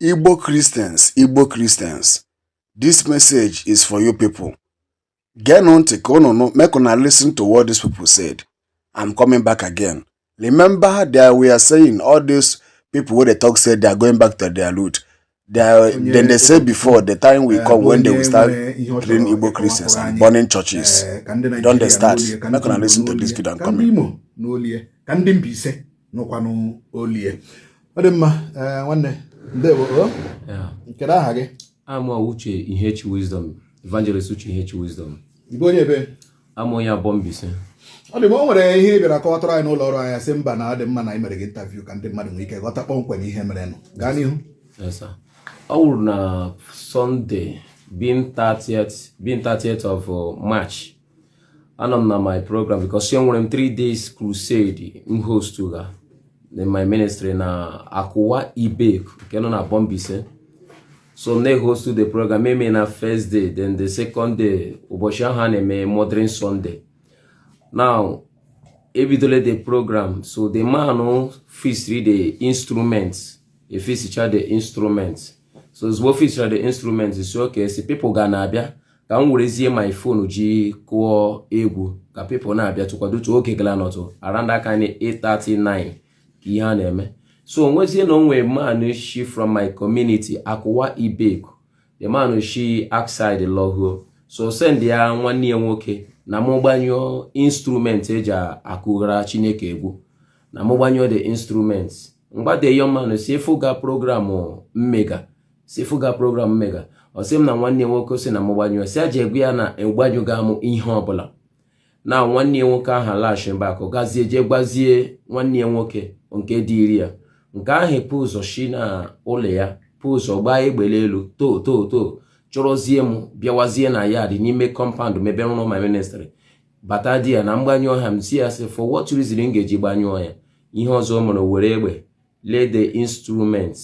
Igbo Christians, Igbo Christians, this message is for you people. Geenụ ntị ka unu nụ make una listen to what these people said. I'm coming back again. Remember that we are saying all these people wey dey talk say they are going back to their root. They are, then they say before the time will come when they will start killing Igbo Christians and burning churches. Don dey start. Make una listen to this video and comment. Ka ndị Mbaise nụkwanụ olie ọ dị mma eh, nwanne ndewo oh. kedu aha gị awụ m Uche Ihechi wisdom evangelist Uche Ihechi wisdom ị bụ onye ebee awụ m onye Aboh Mbaise ọ dị mma o nwere ihe ị bịara kọwatụrụ anyị n'ụlọ ọrụ anyị sị mba na ọ dị mma na anyị mere gị interview ka ndị mmadụ nwee ike ghọta kpọmkwem ihe merenụ gaa n'ihu ọ wụrụ na Sunday being 30th of uh, march anọ m na my program because e nwere m 3 days crusade m host ga in my ministry na Akụwa Ibeku nke nọ na Aboh Mbaise so m na-ehostu the program eme na first day then the second day ụbọchị ahụ a na-eme Mothering Sunday now ebidole the program so the man fixiri the instrument efixicha the instrument so ozugbo fixchara the instrument sị okay since people ga na-abịa ka m werezie my phone ji kụọ egwu ka people na-abịa tụkwadotu oge gara nọtụ around that kind 8:39 ka ihe a na-eme so o nwezie na o nwe man shi from my community akụwa ibeku the man shi outside lọhụọ so sendịa nwanne ya nwoke na mụ gbanyụọ instrument e ji akụgara chineke egwu na mụ gbanyụọ the instrument m gwa the young man sị ị fụga program m mega sị ị fụga program m mega ọ sị m na nwanne ya nwoke si na m gbanyụọ sị ya jee gwa ya na agbanyụga m ihe ọbụla na nwanne ya nwoke ahụ alaghachi back gazie jee gwazie nwanne ya nwoke nke ziri ya nke ahụ pụ ụzọ shi na ụlọ ya pụ ụzọ gbaa egbe l'elu too too too chọrọzie m bịawazie na yard n'ime compound m ebe m rụrụ my ministry bata there na m gbanyụọ ha m si ya sị for what reason m ga-eji gbanyụọ ya ihe ọzọ m hụrụ o were egbe lee the instrument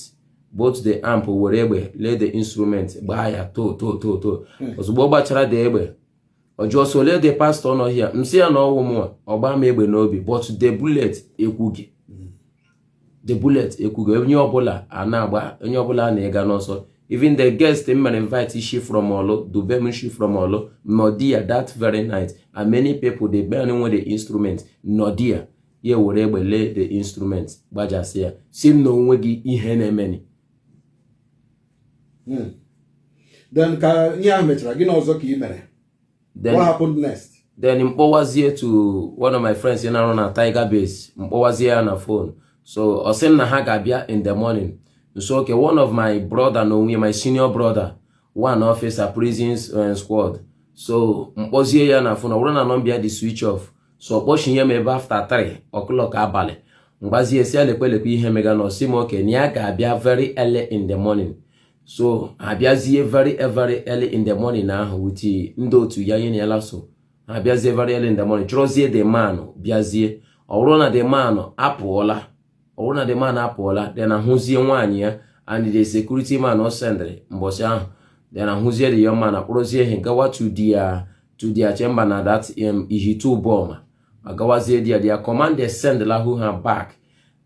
both the amp were egbe lee the instrument gbaa ya too too too too hmm. ozugbo ọ gbachara the egbe ọ jụọ sị olee the pastor nọ here m si ya na ọ wụ m ọ gbaa m egbe n'obi but the bullet ekwughị hmm. the bullet ekwughị onye ọbụla a na-agba onye ọbụla a na-ega n'ọsọ even the guest m mere invite shi from Orlu Dubem shi from Orlu nọ there that very night and many people the boy nwe the instrument nọ there ya were egbe lee the instrument gbajasịa sị m na o nweghị ihe na-emeni hmm. then ka ihe ahụ mechara gịnị ọzọ ka ị mere what happened next then m kpọwazie to one of my friends na-arụ na Tiger Base m kpọwazie ya na phone so ọ sị m na ha ga-abịa in the morning m sị okay one of my brother na o nwe my senior brother one officer prisons eh, squad so m kpọzie ya na phone ọ wụrụ na number ya dị switch off so kpọchinye m ebe after 3 o'clock abalị m gbazie sị ya lekwe lekwe ihe mega na ọ sị m okay na ya ga-abịa very early in the morning so ha abịazie very very early in the morning ahụ with ndị otu ya nye na ya laso abịazie very early in the morning chọrọzie the man bịazie ọ bụrụ na the man apụọla ọ bụrụ na the man apụọla then a hụzie nwaanyị ya and the security man ọ sendịrị mbọchị ahụ then a hụzie the young man akpọrọzie ha gawa to their to their chamber na that um, Ihitte Uboma agawazie there their commander send lahu ha back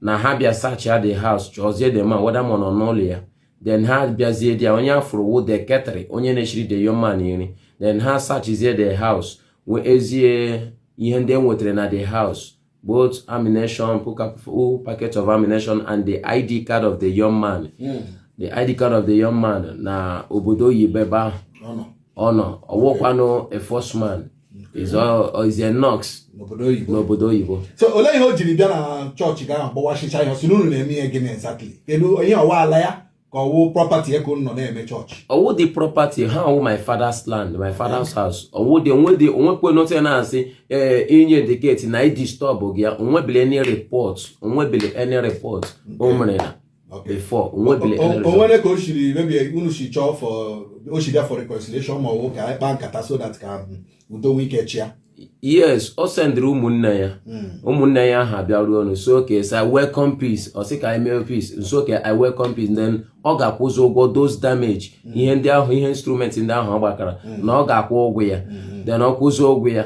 na ha bịa searchịa the house chọzie the man whether ma ọ nọ n'ụlọ ya then ha bịazie there onye a fụrụ wụ the caterer onye na-eshiri the young man nri then ha searchzie the house wezie ihe ndị e nwetara na the house both ammunition, full package of ammunition, and the ID card of the young man. Mm. The ID card of the young man na obodo oyibo ebe ọ nọ. Ọ nọ. Ọ wụkwanụ a force man. Okay. Is, uh, is a nurse. N'obodo oyibo. N'obodo oyibo. So olee ihe o jiri bịa na chọọchị ga-agbawachicha ihe ọ sị n'unu na-eme ihe gịnị exactly? Kedu onye ọ wụ ala ya? ka ọ wụ property ya ka unu nọ na-eme chọọchị ọ wụdị property ha ọ wụ my father's land my father's house ọ wụdị o nwedị o nwekwe nọtị na-asị ee eh, inye diketi na idisturb gị ya o nwebili any report o nwebili any report o mere ya before o nwebili any report o nwere ka o shiri maybe unu si chọọ for o shiri bịa for reconciliation ma ọ wụ ka anyị kpaa nkata so that ka udo nwee ike chịa yes ọ sendịrị ụmụnne ya hmm. ụmụnne ya ahụ abịaruo nsị okay sị i welcome peace ọ sị ka anyị mee peace nsị okay i welcome peace then ọ ga-akwụzi ụgwọ those damage hmm. ihe ndị ahụ ihe instrument ndị ahụ ọ gbakara hmm. na ọ ga-akwụ ụgwọ ya then ọ kwụzi ụgwọ ya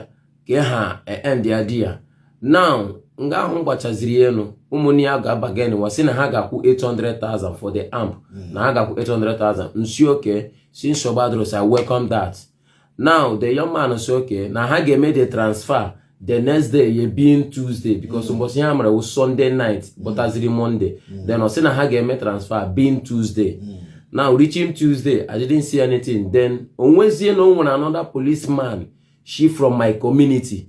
ka ha e, end ya there now nga ahụ gbachaziri elu ụmụnne ya gaa bargainịwa sị na ha ga-akwụ 800,000 for the amp na ha ga-akwụ 800,000 nsị okay sị nsogbu adịrọ sị i welcome that now the young man say okay na ha ga-eme the transfer the next day ye being tuesday because mbọchị ha mere wụ sunday night bọtaziri monday then ọ sị na ha ga-eme transfer being tuesday now reaching tuesday i didn't see anything then o nwezie na o nwere another policeman shi from my community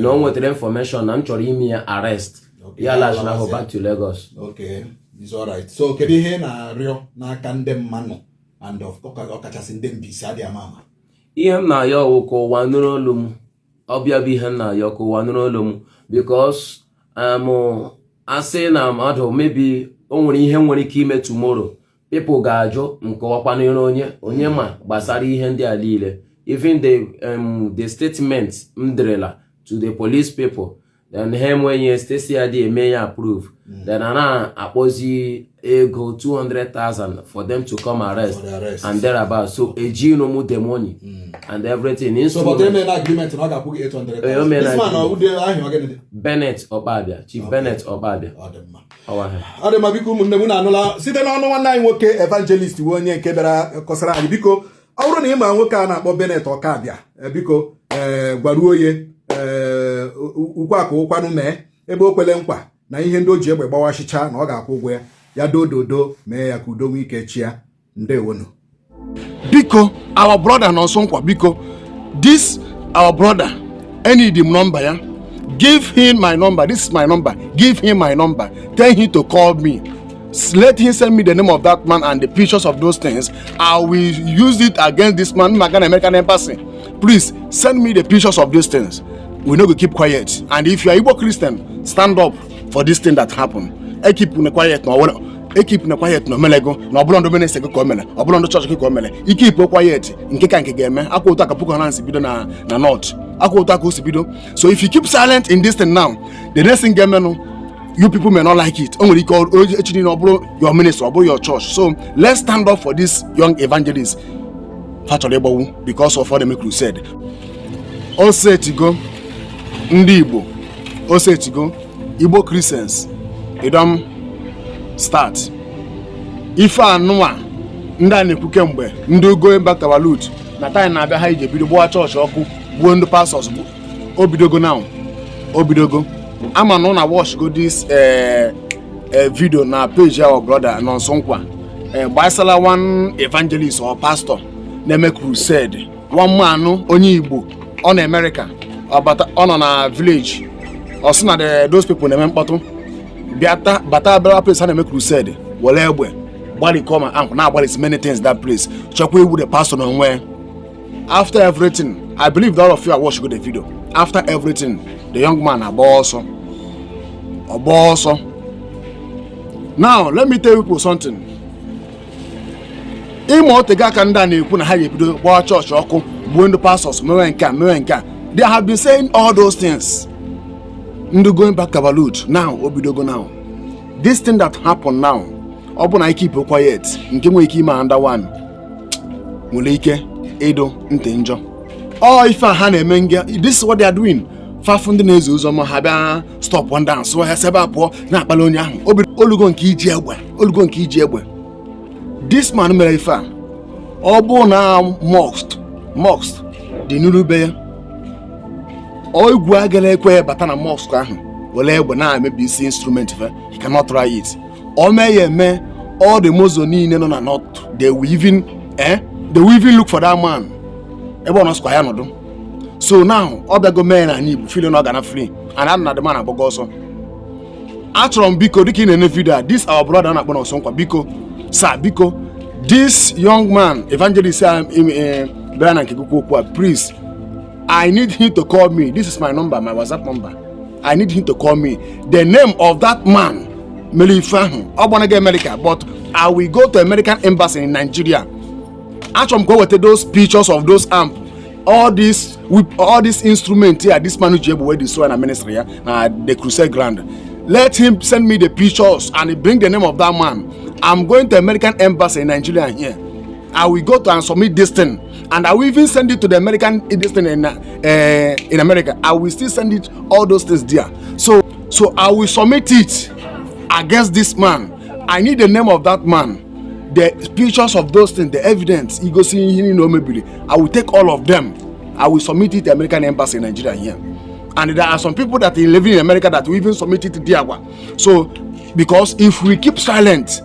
na o nwetara information na m chọrọ ime ya arrest ya laghachina ahụ back to Lagos so kedu ihe ị na-arịọ n'aka ndị mmanụ and ọkachasị ndị Mbaise adịghị ama ama ihe m na-ayọ wụ ka ụwa nụrụ olu m ọ bụ ya bụ ihe m na-ayọ ka ụwa nụrụ olu m because um, a sị na mmadụ maybe o nwere ihe nwere ike ime tomorrow people ga-ajụ nke ọkwa n'iru onye onye ma gbasara ihe ndị a niile even the um, the statement m derela to the police people then ha enweghị State CID eme ya approve hmm. then a na-akpọzi ego 200,000 for them to come arrest and thereabout so eji nomu the money hmm. and everything so but they made agreement na ọ ga-akwụ gị 800,000 eh, this man ọ dị aha ya ọ gịnị Bennett Okpabia Chief Bennett Okpabia ọ dị ma biko ụmụnne m unu anụla site n'ọnụ nwanne anyị nwoke evangelist bụ onye nke bịara kọsara anyị biko ọ bụrụ na ị ma nwoke a na-akpọ Bennett Ọkabịa eh, biko eh, gwaruo ye eh, okwu a ka ọ kwanụ mee ebe o kwele nkwa na ihe ndị o ji egbe gbawashịcha na ọ ga-akwụ ụgwọ ya ya doo dodo mee ya ka udo nwee ike chịa ndewonu biko our brother na ọsọ nkwa biko this our brother enid m nọmba ya give him my number this is my number give him my number tell him to call me S- let him send me the name of that man and the pictures of those things i will use it against this man maka na american embassy please send me the pictures of these things we no go keep quiet and if you are igbo christian stand up for this thing that happened ekeepna quiet na o mere ekeepna quiet na o melego na ọ bụrọ ndị ministry gị ka o mere ọ bụrọ ndị chọọchị gị ka o mere i keepụọ quiet nke ka nke ga-eme ọ kwa otu a ka Boko Haram si bido na na north ọ kwa otu a ka o si bido so if you keep silent in this thing now the next thing ga-emenụ you people may not like it o nwere ike echi niile ọ bụrụ your minister ọ bụrụ your church so let's stand up for this young evangelist fa chọrọ ịgbagbu because of ọ na-eme crusade o setigo ndị igbo o setigo igbo christians e don start ife anụwa ndị a na-ekwu kemgbe ndị go back to our root na time na-abịa ha ije bido gbawa chọọchị ọkụ gbuo ndị pastors o bidogo now o bidogo ama na unu awatchgo this eh, eh, video na page our brother Nonso Nkwa eh, gbasara one evangelist or pastor na-eme crusade one man onye igbo ọ nọ America ọ nọ na village ọ sị na those people na-eme mkpọtụ bịa bata abịara place ha na-eme crusade were egbe gbarikọ ma ankụ na-agbalisi many things that place chọkwa igbu the pastor na onwe after everything i believe that all of you are watching the video after everything the young man agbaa ọsọ ọ gbaa ọsọ now let me tell you something ị ma o tego aka ndị a na-ekwu na ha ga-ebido gbaa chọọchị ọkụ gbuo ndị pastors mewe nke a mewe nke a they have been saying all those things ndị going back to our root now o bidogo now this thing that happen now ọ bụ na i keepụọ quiet nke nwere ike ime another one nwere ike ịdụ ntị njọ ọ ife a ha na-eme nga this is what they are doing fa fụ ndị na-ezi ozi ọma ha bịa stọpụ ndị ahụ sị ha si ebe a pụọ na-akpali onye ahụ obi o lugo nke iji egbe o lugo nke iji egbe this man mere ife a ọ bụ na mosque mosque dị n'iru be ya egwu agara ekwe bata na mosque ahụ were egbe na-emebisi instrument fa he cannot try it o mee ya eme all the muslim niile nọ na north they will even eh they will even look for that man ebe ọ nọ sịkwa ya nọdụ so now ọ bịago mee n'anị igbo feel na ọ ga-ana free and anụ m na the man agbago ọsọ achọrọ m biko dịka ị na-ene video a this our brother na-akpọ nọnsọ nkwa biko sir biko this young man evangelist a eh, bịara na nke gị okwu a please i need him to call me this is my number my whatsapp number i need him to call me the name of that man mere ife ahụ ọ gbanaghị america but i will go to american embassy in nigeria achọrọ m ka o weta those pictures of those amp all this with all this instrument here this man ji egbe wey dey soil na ministry ya na the crusade ground let him send me the pictures and he bring the name of that man i'm going to american embassy in nigeria here i will go to and submit this thing and i will even send it to the american eh, this thing in uh, in america i will still send it all those things there so so i will submit it against this man i need the name of that man the pictures of those things the evidence igosi ihe niile o mebiri i will take all of them i will submit it to american embassy in nigeria here and there are some people that are living in america that will even submit it to there kwa so because if we keep silent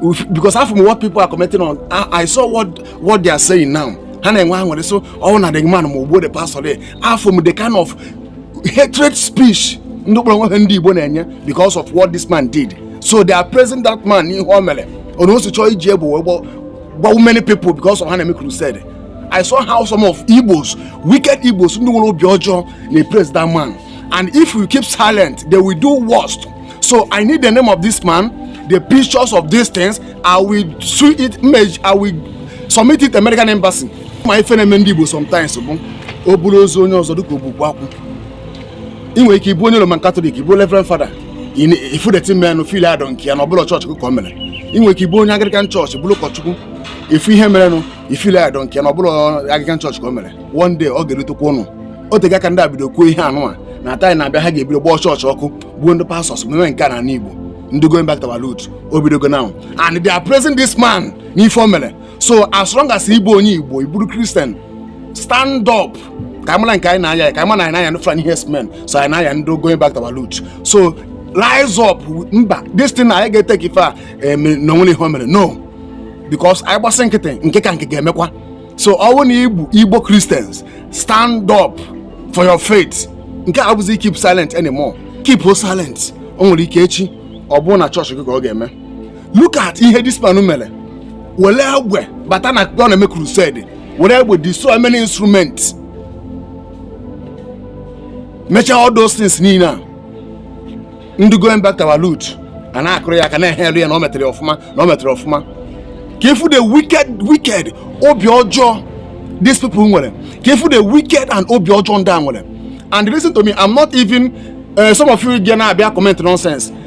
if, because afụ m what people are commenting on I, I saw what what they are saying now ha na-enwe aṅụrị so ọ bụ na the man ma o gbuo the pastor there afụ m the kind of hatred speech ndị kpọrọ onwe ha ndị igbo na-enye because of what this man did so they are praising that man n'ihe o mere ọ na o si chọọ iji egbe wee gbọ- gbawu many people because of ha na-eme crusade i saw how some of igbos wicked igbos ndị nwere obi ọjọọ na praise that man and if we keep silent they will do worst so i need the name of this man the pictures of these things i will sue it mej i will submit it american embassy ma ife na-eme ndị igbo sometimes bụ e buru ozu onye ọzọ dịka ogbugbu akwụ ị nwere ike ịbụ onye Roman Catholic ị bụ Reverend Father ị fụ the thing menụ feel I don't care na ọ bụrọ chọọchị ka o mere ị nwere ike ịbụ onye Anglican chọọchị bụrụ ụkọchukwu ị fụ ihe merenụ ị feel I don't care na ọ bụrọ Anglican chọọchị ka o mere one day ọ ga-erutekwa unu o tego ka ndị a bido kwuo ihe a nụnwa na time na-abịa ha ga-ebido gbaa chọọchị ọkụ gbuo ndị pastors meme nke a na Igbo ndị going back to our root o bidogo now and they are praising this man n'ife o mere so as long as ị bụ onye igbo ị bụrụ christian stand up ka mara nke anyị na-aya aya ka ma na anyị na-aya ndị fulani herdsmen so anyị na-aya ndị going back to our root so rise up mba this thing na anyị ga take ife a eh, na o nwerọ ihe o mere no because anyị gbasị nkịtị nke ka nke ga-emekwa so ọ bụrụ na ị bụ igbo christians stand up for your faith nke a abụzi keep silent anymore keep silent o nwere ike echi ọ bụrụ na chọọchị gị ka ọ ga-eme look at ihe this man mere were egbe bata na ọ na-eme crusade were egbe destroy many instruments mechaa all those things niile a ndị going back to our root a na-akụrụ ya aka na-ehail ya na ọ metere ọfụma na ọ metere ọfụma ka ị fụ the wicked wicked obi ọjọọ these people nwere ka ị fụ the wicked and obi ọjọọ ndị a nwere and listen to me i'm not even uh, some of you ga na-abịa comment nonsense